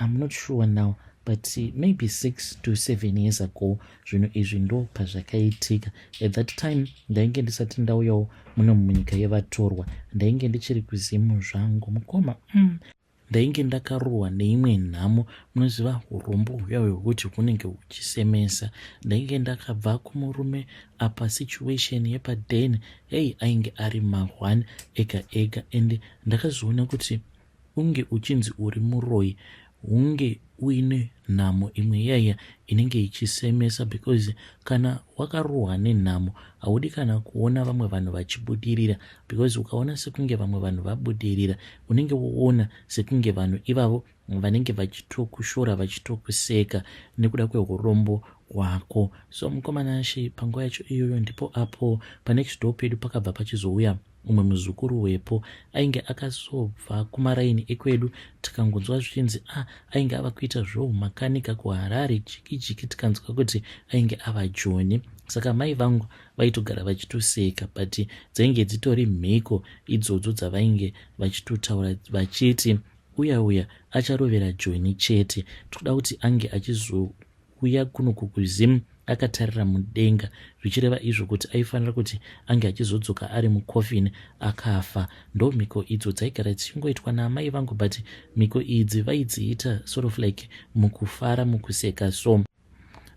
I'm not sure now but maybe six to seven years ago zvinhu izvi ndo pazvakaitika at that time ndainge ndisati ndauyawo muno munyika yevatorwa ndainge ndichiri kuzimu zvangu mukoma mm. ndainge ndakarohwa neimwe nhamo munoziva urombo huya hwekuti hunenge huchisemesa ndainge ndakabva kumurume apa situation yepaden hei ainge ari mahwani ega ega and ndakazoona kuti Hunge uchinzi uri muroyi hunge uine nhamo imwe iyaiya inenge ichisemesa because kana wakarohwa nenhamo haudi kana kuona vamwe vanhu vachibudirira because ukaona sekunge vamwe vanhu vabudirira unenge woona sekunge vanhu ivavo vanenge vachitokushora vachitokuseka nekuda kweurombo hwako so mukomana ashe panguva yacho iyoyo ndipo apo panext door pedu pakabva pachizouya Mumwe muzukuru wepo ainge akazobva kumaraini ekwedu tikangonzwa zvichinzi a ah, ainge ava kuita zvoumakanika kuharare jiki jiki tikanzwa kuti ainge ava joni saka mai vangu vaitogara vachitoseka but dzainge dzitori mhiko idzodzo dzavainge vachitotaura vachiti uya uya acharovera joni chete tikuda kuti ange achizo kuya kuno kukuzim akatarira mudenga zvichireva izvo kuti aifanira kuti ange achizodzoka ari mucoffin akafa ndo mhiko idzo dzaigara dzichingoitwa naamai vangu but mhiko idzi vaidziita sort of like mukufara mukuseka so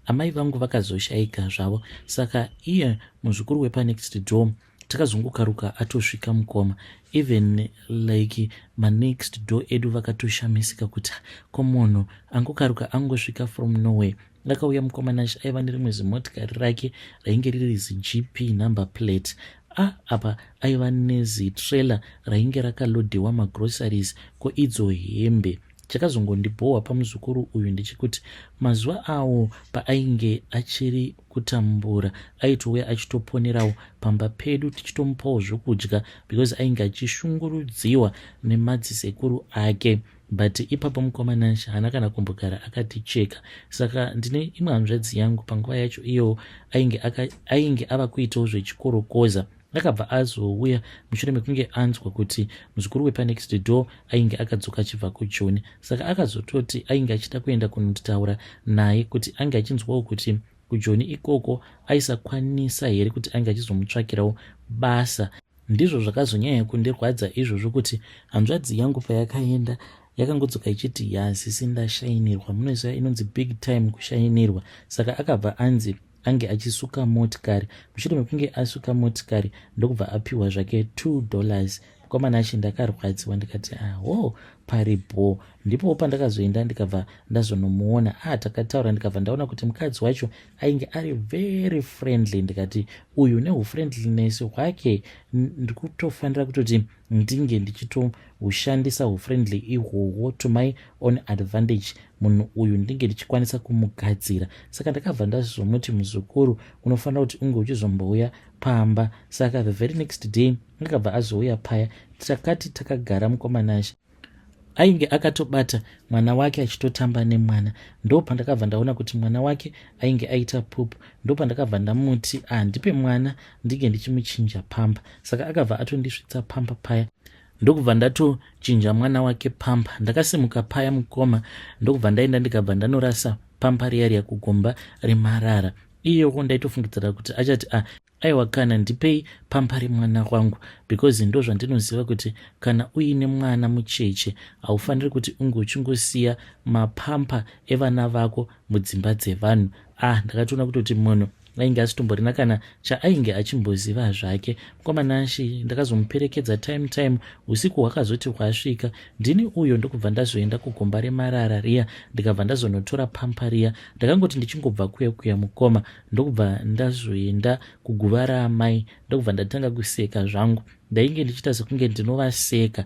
amai vangu vakazoshaika zvavo saka iye muzukuru wepanext door takazongokaruka atosvika mukoma even like manext door edu vakatoshamisika kuti ko munhu angokaruka angosvika from norway akauya mukoma nash aiva nerimwe zimotikari rake rainge riri zigp number plate a ah, apa aiva nezitrailer rainge rakalodhewa magroceries ko idzo hembe chakazongondibhohwa pamuzukuru uyu ndechekuti mazuva awo paainge achiri kutambura aitove achitoponerawo pamba pedu tichitomupawo zvokudya because ainge achishungurudziwa nemadzisekuru ake but ipapo mukoma nash haana kana kumbogara akaticheka saka ndine imwe hanzvadzi yangu panguva yacho iyowo ainge, ainge ava kuitawo zvechikorokoza Akabva azouya mushure mekunge anzwa kuti muzukuru wepanext door ainge akadzoka achibva kujoni saka akazototi ainge achida kuenda kunotaura naye kuti ange achinzwawo kuti kujoni ikoko aisakwanisa here kuti ange achizomutsvakirawo basa ndizvo zvakazonyanya kundirwadza izvozvo kuti hanzvadzi yangu payakaenda yakangodzoka ichiti yasisi ndashainirwa munoziva inonzi big time kushainirwa saka akabva anzi ange achisuka motikari mushure mekunge asuka motikari ndokubva apiwa zvake two dollars mukomana achi ndakarwadziwa ndikati aho ah, pari bho ndipowo pandakazoenda ndikabva ndazonomuona a ah, takataura ndikabva ndaona kuti mukadzi wacho ainge ari very friendly ndikati uyu neufriendliness hwake ndikutofanira kutoti ndinge ndichitoushandisa hufriendly ihwohwo to my own advantage munhu uyu ndinge ndichikwanisa kumugadzira saka ndakabva ndazomuti muzukuru unofanira kuti unge uchizombouya pamba saka the very next day akabva azouya paya takati takagara mukomanashe ainge akatobata mwana wake achitotamba nemwana ndo pandakabva ndaona kuti mwana wake ainge aita pupu ndo pandakabva ndamuti handipe ah, mwana ndinge ndichimuchinja pamba saka akabva atondisvitsa pamba paya ndokubva ndatochinja mwana wake pamba ndakasimuka paya mukoma ndokubva ndaenda ndikabva ndanorasa pamba riya riya kugomba remarara iyoko ndaitofungidzira kuti achati a ah, Aiwa kana ndipei pamba remwana wangu because ndozvandinoziva kuti kana uine mwana mucheche haufaniri kuti unge uchingosiya mapampa evana vako mudzimba dzevanhu ah ndakatoona kutoti munhu ainge asitomborina kana chaainge achimboziva zvake mkomananshi ndakazomuperekedza time time usiku hwakazoti hwasvika ndini uyo ndokubva ndazoenda kugomba remarara riya ndikabva ndazonotora pampa riya ndakangoti ndichingobva kuya kuya mukoma ndokubva ndazoenda kuguva raamai ndokubva ndatanga kuseka zvangu ndainge ndichiita sekunge ndinovaseka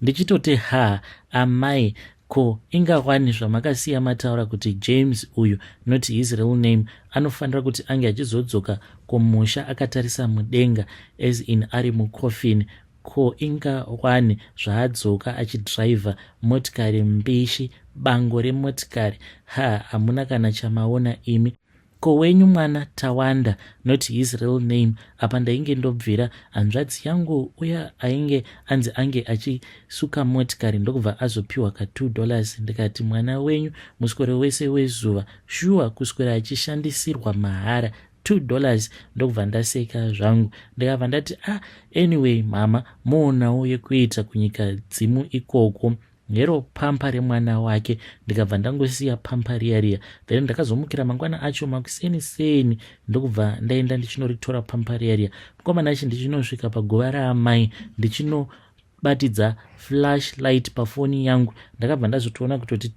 ndichitoti ha amai ko ingawani zvamakasiya mataura kuti james uyu not his real name anofanira kuti ange achizodzoka kumusha akatarisa mudenga as in ari mucoffin ko ingawani zvaadzoka achidriver motikari mbishi bango remotikari ha hamuna kana chamaona imi Ko wenyu mwana Tawanda not his real name apa ndainge ndobvira hanzvadzi yangu uya ainge anzi ange achisuka motikari ndokubva azopiwa ka 2 dollars ndikati mwana wenyu muswero wese wezuva shuwa kuswera achishandisirwa mahara 2 dollars ndokubva ndaseka zvangu ndikabva ndati ah anyway mhama moonawo yekuita kunyika dzimu ikoko nero pampa remwana wake ndikabva ndangosiya pampa riya riya then ndakazomukira mangwana acho makuseni seni ndokubva ndaenda ndichinoritora pampa riya riya mukomana achi ndichinosvika paguva raamai ndichinobatidza flash light pafoni yangu ndakabva ndazotoona kutoti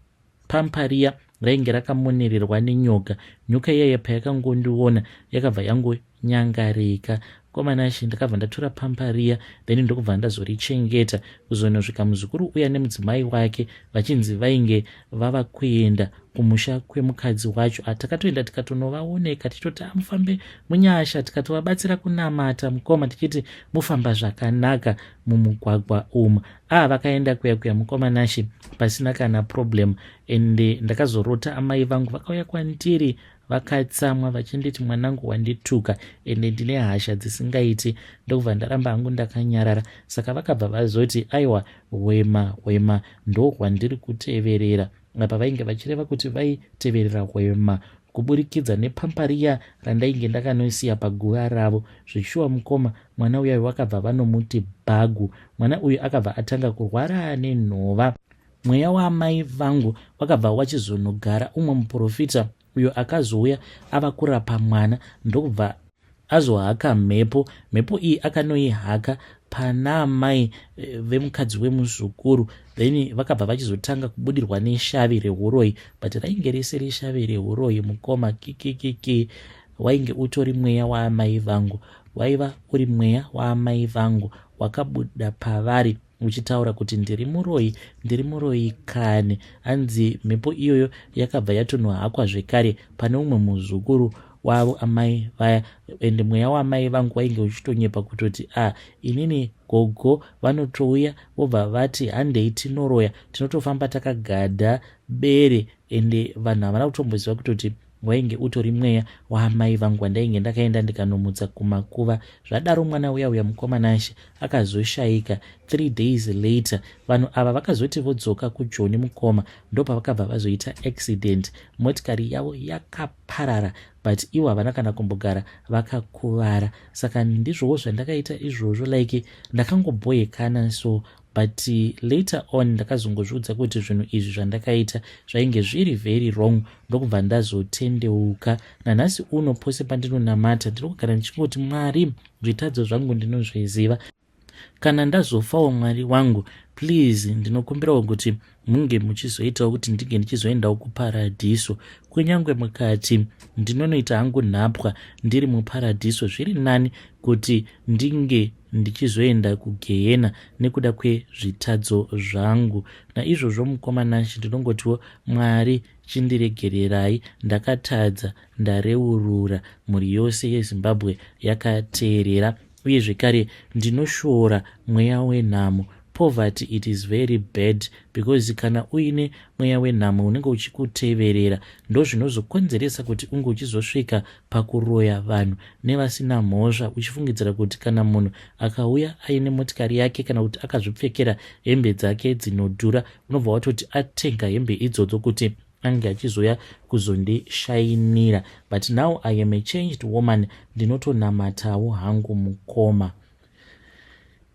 Pampa riya rainge rakamonererwa nenyoka. Nyoka iyaiya payakangondiona yakabva yangonyangarika. Mkoma Nashe ndakabva ndatora pampa riya then ndokubva ndazorichengeta kuzonosvika muzukuru uya nemudzimai wake vachinzi vainge vava kuenda kumusha kwemukadzi wacho ah, takatoenda tikatonovaoneka tichitoti ah, mufambe munyasha tikatovabatsira kunamata mukoma tichiti mufamba zvakanaka mumugwagwa umu ah vakaenda kuya kuya mukoma nashe pasina kana problem and ndakazorota amai vangu vakauya kwandiri vakatsamwa vachinditi mwanangu wandituka ende ndine hasha dzisingaiti ndokubva ndaramba hangu ndakanyarara saka vakabva vazoti aiwa hwema hwema ndohwandiri kuteverera apa vainge vachireva kuti vaiteverera hwema kuburikidza nepampariya randainge ndakanoisiya paguva ravo zvichishuwa mukoma mwana uyayo vakabva vanomuti bhagu mwana uyu akabva atanga kurwara nenhova mweya waamai vangu wakabva wachizonogara umwe muprofita uyo akazouya ava kurapa mwana ndokubva azohaka mhepo mhepo iyi akanoihaka pana amai eh, vemukadzi wemuzukuru then vakabva vachizotanga kubudirwa neshavi reuroyi but rainge risiri shavi reuroyi mukoma kikikiki wainge utori mweya waamai vangu waiva uri mweya waamai vangu wakabuda pavari muchitaura kuti ndiri muroyi ndiri muroyi kani hanzi mhepo iyoyo yakabva yatonohakwa zvekare pane umwe muzukuru wavo amai vaya ende mweya waamai vangu wainge uchitonyepa kutoti a ah, inini gogo vanotouya vobva vati handei tinoroya tinotofamba takagadha bere ende vanhu havana kutomboziva kutoti Wainge utori mweya waamai vangu wandainge ndakaenda ndikanomutsa kumakuva. Zvadaro mwana uya uya mukomanashe akazoshaika. Three days later vanhu ava vakazoti vodzoka kujoni mukoma ndopavakabva vazoita accident. Motikari yavo yakaparara but ivo havana kana kumbogara vakakuvara. Saka ndizvowo zvandakaita izvozvo like ndakangobhoyekana so but later on ndakazongozviudza kuti zvinhu izvi zvandakaita zvainge zviri very wrong ndokubva ndazotendeuka nanhasi uno pose pandinonamata ndiri kugara ndichingoti mwari zvitadzo zvangu ndinozviziva kana ndazofawo mwari wangu please ndinokumbirawo kuti munge muchizoitawo kuti ndinge ndichizoendawo kuparadhiso kunyange mukati ndinonoita hangu nhapwa ndiri muparadhiso zviri nani kuti ndinge ndichizoenda kugehena nekuda kwezvitadzo zvangu naizvozvo mukoma nanshi ndinongotiwo mwari chindiregererai ndakatadza ndareurura mhuri yose yezimbabwe yakateerera Uye zvekare ndinoshoora mweya wenhamo poverty it is very bad because kana uine mweya wenhamo unenge uchikuteverera ndozvinozokonzeresa kuti unge uchizosvika pakuroya vanhu nevasina mhosva uchifungidzira kuti kana munhu akauya aine motikari yake kana kuti akazvipfekera hembe dzake dzinodhura unobva watoti atenga hembe idzodzo kuti ange achizouya kuzondishainira but now i am a changed woman ndinotonamatawo hangu mukoma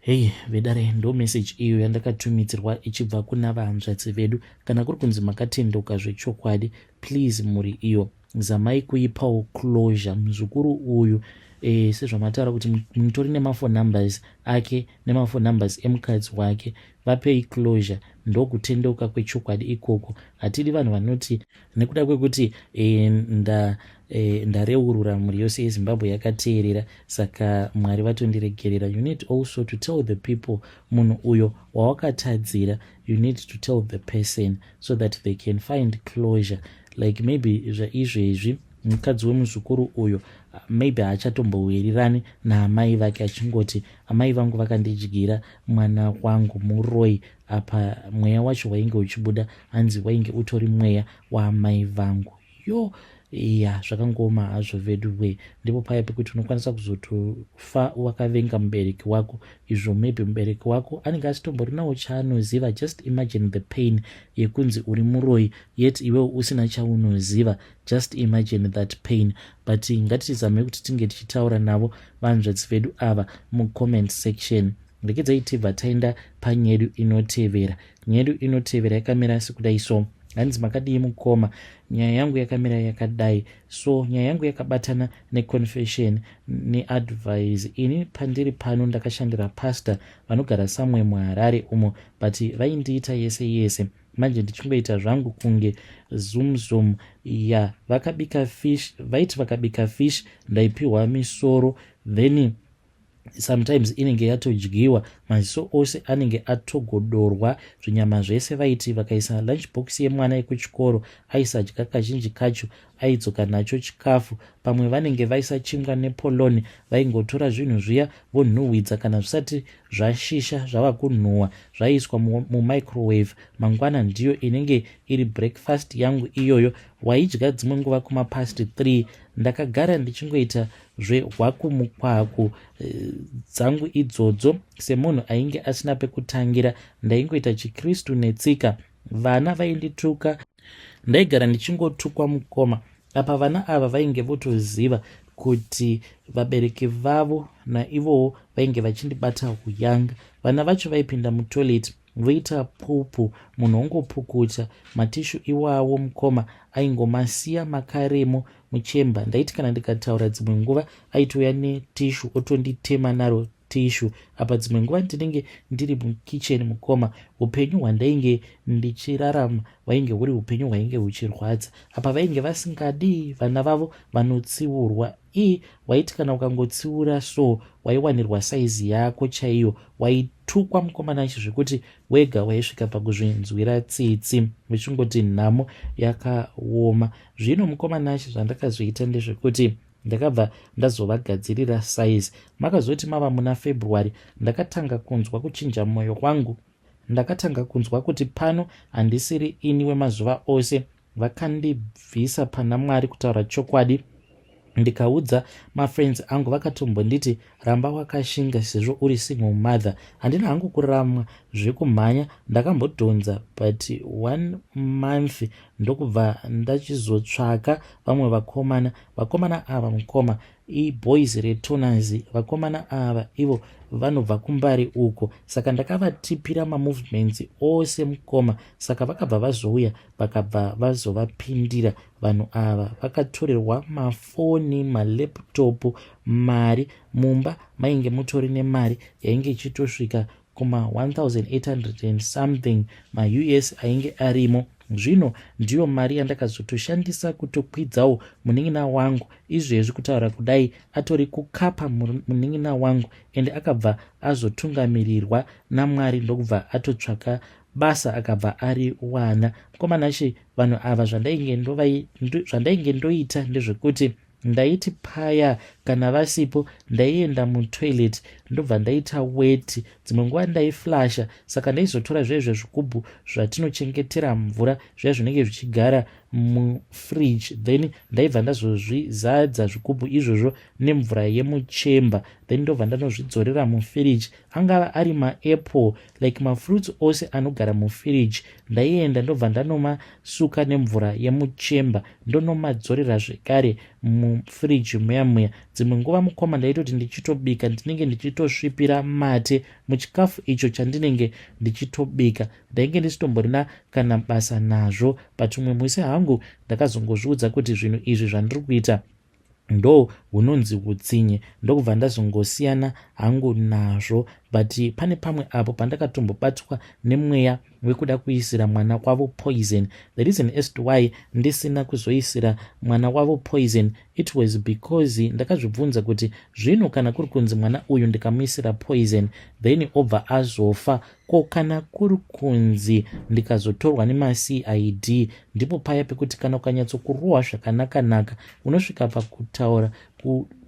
hei vedare ndo meseji iyo yandakatumidzirwa ichibva kuna vahanzvadzi vedu kana kuri kunzi makatendeuka zvechokwadi please mhuri iyo zamai kuipawo closure muzukuru uyu e, sezvamataura kuti mutori nemafo numbers ake nemafo numbers emukadzi wake vapei closure ndokutendeuka kwechokwadi ikoko hatidi vanhu vanoti nekuda kwekuti e, nda e, ndareurura mhuri yose yezimbabwe yakateerera saka mwari vatondiregerera you need also to tell the people munhu uyo wawakatadzira you need to tell the person so that they can find closure like maybe zvaizvezvi mukadzi wemuzukuru uyo maybe haachatombowirirani naamai vake achingoti amai vangu vakandidyira mwana wangu muroi apa mweya wacho wainge uchibuda hanzi wainge utori mweya waamai vangu yo ya zvakangooma hazvo vedu wee ndipo paya pekuti unokwanisa kuzotofa wakavenga mubereki wako izvo maybe mubereki wako anenge asitomborinawo chaanoziva just imagine the pain yekunzi uri muroi yet iwewo usina chaunoziva Just imagine that pain but ngatitizame kuti tinge tichitaura navo vanzvadzi vedu ava mucomment section regedzai tibva taenda panyedu inotevera nyedu inotevera yakamira sekudai so hanzi makadii mukoma nyaya yangu yakamira yakadai so nyaya yangu yakabatana neconfession neadvise ini pandiri pano ndakashandira pastor vanogara samwe muharare umo but vaindiita yese yese manje ndichingoita zvangu kunge zumzum ya vakabika fish vaiti vakabika fish ndaipiwa misoro then sometimes inenge yatodyiwa maziso ose anenge atogodorwa zvinyama zvese vaiti vakaisa lunch box yemwana yekuchikoro aisadya kazhinji kacho aidzoka nacho chikafu pamwe vanenge vaisa chingwa nepoloni vaingotora zvinhu zviya vonhuhwidza kana zvisati zvashisha zvava kunhuhwa zvaiiswa mumicrowave mangwana ndiyo inenge iri breakfast yangu iyoyo waidya dzimwe nguva kumapast 3 ndakagara ndichingoita zvehwakumukwaku eh, dzangu idzodzo semunhu ainge asina pekutangira ndaingoita chikristu netsika vana vaindituka ndaigara ndichingotukwa mukoma apa vana ava vainge votoziva kuti vabereki vavo naivowo vainge vachindibata huyanga vana vacho vaipinda mutoilet voita pupu munhu ongopukuta matishu iwawo mukoma aingomasiya makaremo muchemba ndaiti kana ndikataura dzimwe nguva aitouya netishu otonditema naro tissue apa dzimwe nguva ndinenge ndiri mukitchen mukoma upenyu hwandainge ndichirarama hwainge huri upenyu hwainge huchirwadza apa vainge vasingadii vana vavo vanotsiurwa i waiti kana ukangotsiura so waiwanirwa saizi yako chaiyo waitukwa mukomana chi zvekuti wega waisvika pakuzvinzwira tsitsi vechingoti nhamo yakaoma zvino mukomana chi zvandakazoita ndezvekuti ndakabva ndazovagadzirira size makazoti mava muna february ndakatanga kunzwa kuchinja mwoyo wangu ndakatanga kunzwa kuti pano handisiri ini wemazuva ose vakandibvisa pana mwari kutaura chokwadi ndikaudza mafriends angu vakatombonditi ramba wakashinga sezvo uri single mother handina hangu kuramwa zvekumhanya ndakambodhonza but one month ndokubva ndachizotsvaka vamwe vakomana vakomana ava mukoma iboys retoners vakomana ava ivo vanobva kumbari uko saka ndakavatipira mamovements ose mukoma saka vakabva vazouya vakabva vazovapindira Vanhu ava vakatorerwa mafoni, malaptop, mari. Mumba mainge mutori nemari yainge ichitosvika kuma 1800 and something maus ainge arimo zvino ndiyo mari yandakazotoshandisa kutokwidzawo munin'ina wangu izvezvi kutaura kudai atori kukapa munin'ina wangu ende akabva azotungamirirwa namwari ndokubva atotsvaka basa akabva ari wana mukoma nashe vanhu ava zvandainge ndovai ndo, zvandainge ndoita ndezvekuti ndaiti paya kana vasipo ndaienda mutoilet ndobva ndaita weti dzimwe nguva ndaiflasha saka ndaizotora zviya zviya zvigubhu zvatinochengetera mvura zviya zvinenge zvichigara mufridge then ndaibva ndazozvizadza zvigubhu izvozvo nemvura yemuchemba then ndobva ndanozvidzorera mufiriji angava ari maapple like mafruits ose anogara mufiriji ndaienda ndobva ndanoma suka nemvura yemuchemba ndonomadzorera zvekare mufiriji muya muya dzimwe nguva mukoma ndaitoti ndichitobika ndinenge ndichitosvipira mate muchikafu icho chandinenge ndichitobika ndainge ndisitomborina kana basa nazvo but umwe musi hangu ndakazongozviudza kuti zvinhu izvi zvandiri kuita ndo hunonzi hutsinye ndokubva ndazongosiyana hangu nazvo but pane pamwe apo pandakatombobatwa nemweya wekuda kuisira mwana kwavo poison the reason as to why ndisina kuzoisira mwana wavo poison it was because ndakazvibvunza kuti zvino kana kuri kunzi mwana uyu ndikamuisira poison then obva azofa Ko kana kuri kunzi ndikazotorwa nemaCID ndipo paya pekuti kana ukanyatsokurohwa zvakanakanaka unosvika pakutaura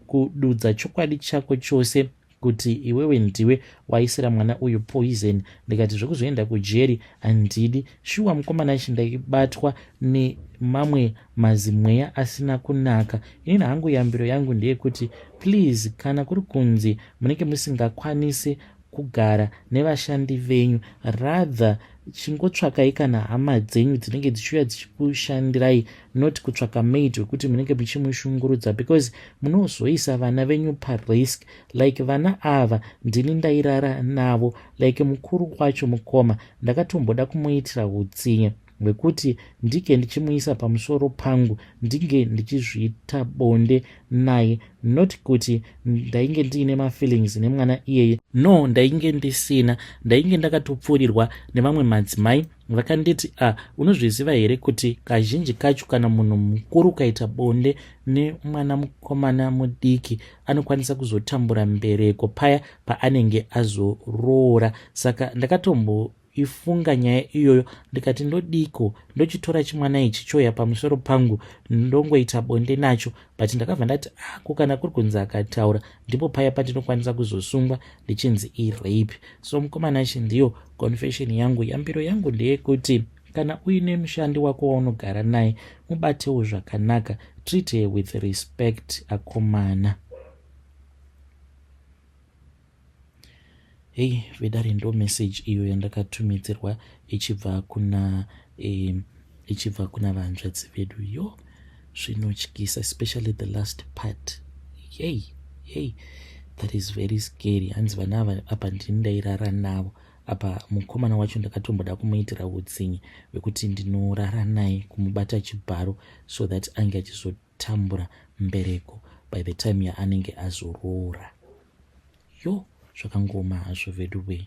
kududza chokwadi chako chose kuti iwewe ndiwe waisira mwana uyu poison ndikati zvekuzoenda kujeri handidi shuwa mukomana ichi ndaibatwa nemamwe mazimweya asina kunaka inini hangu yambiro yangu ndeyekuti please kana kuri kunzi munenge musingakwanisi kugara nevashandi venyu rather chingotsvakai kana hama dzenyu dzinenge dzichiuya dzichikushandirai not kutsvaka maid wekuti munenge muchimushungurudza because munozoisa vana venyu parisk like vana ava ndini ndairara navo like mukuru wacho mukoma ndakatomboda kumuitira utsinye Wekuti ndinge ndichimuisa pamusoro pangu ndinge ndichizviita bonde naye not kuti ndainge ndiine mafeelings nemwana iyeye no ndainge ndisina ndainge ndakatopfuurirwa nevamwe madzimai vakanditi a ah, unozviziva here kuti kazhinji kacho kana munhu mukuru ukaita bonde nemwana mukomana mudiki anokwanisa kuzotambura mbereko paya paanenge azoroora saka ndakatombo ifunga nyaya iyoyo ndikati ndodiiko ndochitora chimwana ichi choya pamusoro pangu ndongoita bonde nacho but ndakabva ndati ako ah, kana kuri kunzi akataura ndipo paya pandinokwanisa kuzosungwa ndichinzi irape so mukomana chi ndiyo confession yangu yambiro yangu ndeyekuti kana uine mushandi wako waunogara naye mubatewo zvakanaka treat her with respect akomana Hey vedare ndo message iyo yandakatumidzirwa ichibva kuna eh, ichibva kuna vanzvadzi vedu yo zvinotyisa especially the last part yey yey that is very scary hanzi vana ava apa ndini ndairara navo apa mukomana wacho ndakatomboda kumuitira utsinye wekuti ndinorara naye kumubata chibharo so that ange achizoti tambura mbereko by the time yaanenge azoroora yo zvakangoma hazvo veduwee.